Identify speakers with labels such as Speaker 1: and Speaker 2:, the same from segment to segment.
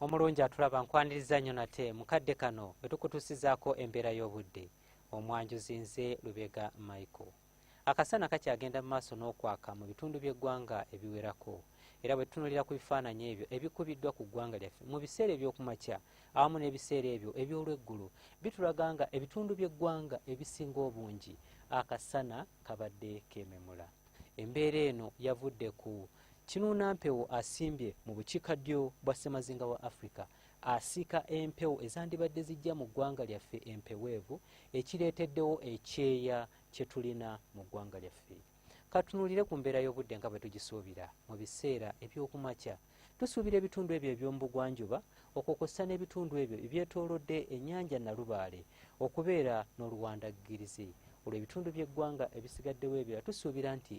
Speaker 1: omulungi atulaba nkwaniriza nnyo nate mukadde kano etukutusizaako embeera y'obudde omwanjuzi nze lubega michael akasana kakyagenda mu maaso n'okwaka mu bitundu by'eggwanga ebiwerako era bwe tutunulira ku bifaananyi ebyo ebikubiddwa ku ggwanga lyaffe mu biseera eby'okumakya awamu n'ebiseera ebyo eby'olweggulu bitulaga nga ebitundu by'eggwanga ebisinga obungi akasana kabadde kememula Embeera eno yavudde ku kinuuna mpewo asimbye mu bukiika ddyo bwa ssemazinga wa Afrika asiika empewo ezandibadde zijja mu ggwanga lyaffe empeweevu ekireeteddewo ekyeya kye tulina mu ggwanga lyaffe. Katunuulire ku mbeera y'obudde nga bwe tugisuubira mu biseera eby'okumakya. Tusuubira ebitundu ebyo eby'omubugwanjuba okwo kw'ossa n'ebitundu ebyo ebyetoolodde ennyanja Nalubaale okubeera n'oluwandaggirizi. Olwo ebitundu by'eggwanga ebisigaddewo ebirala tusuubira nti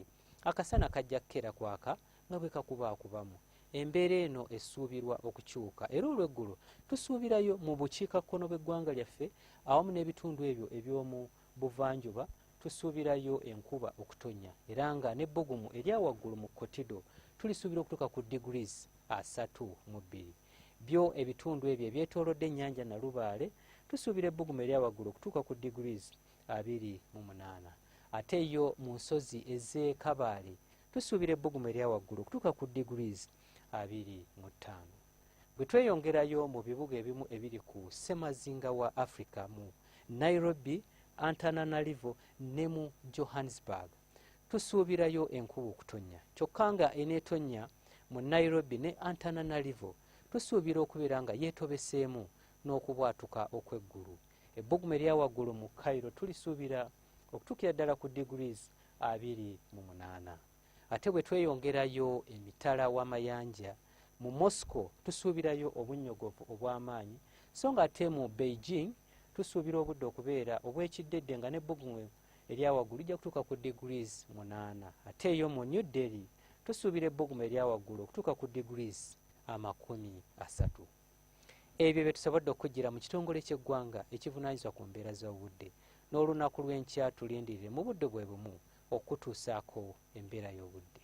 Speaker 1: akasana kajja kukeera kwaka nga bwe kakubaakubamu. Embeera eno esuubirwa okukyuka era olw'eggulo tusuubirayo mu bukiikakkono bw'eggwanga lyaffe awamu n'ebitundu ebyo eby'omu buvanjuba tusuubirayo enkuba okutonya era nga ne bbugumu erya waggulu mu kotido tulisuubira okutuuka ku degrees asatu mu bbiri byo ebitundu ebyo ebyetoolodde ennyanja nalubaale tusuubira ebbugumu erya waggulu okutuuka ku degrees abiri mu munaana ate yo mu nsozi ez'e kabaale tusuubira ebbugumu erya waggulu okutuuka ku degrees abiri mu ttaano bwe tweyongerayo mu bibuga ebimu ebiri ku ssemazinga wa africa mu nairobi antananarivo ne mu johannesburg tusuubirayo enkuba okutonnya kyokka nga eneetonnya mu nairobi ne antananarivo tusuubira okubeera nga yeetobeseemu n'okubwatuka okw'eggulu ebbugumu eryawaggulu mu cairo tulisuubira okutuukira ddala ku degrees abiri mu munaana ate bwe tweyongerayo emitala w'amayanja mu moscow tusuubirayo obunnyogovu obw'amaanyi so nga ate mu beijing tusuubira obudde okubeera obw'ekiddedde nga n'ebbugumu eryawaggulu lijja kutuuka ku degrees munaana ate eyo mu new delhi tusuubira ebbugumu eryawaggulu okutuuka ku degrees amakumi asatu Ebyo bye tusobodde okujjira mu kitongole ky'eggwanga ekivunaanyizibwa ku mbeera z'obudde n'olunaku lw'enkya tulindirire mu budde bwe bumu okukutuusaako embeera y'obudde.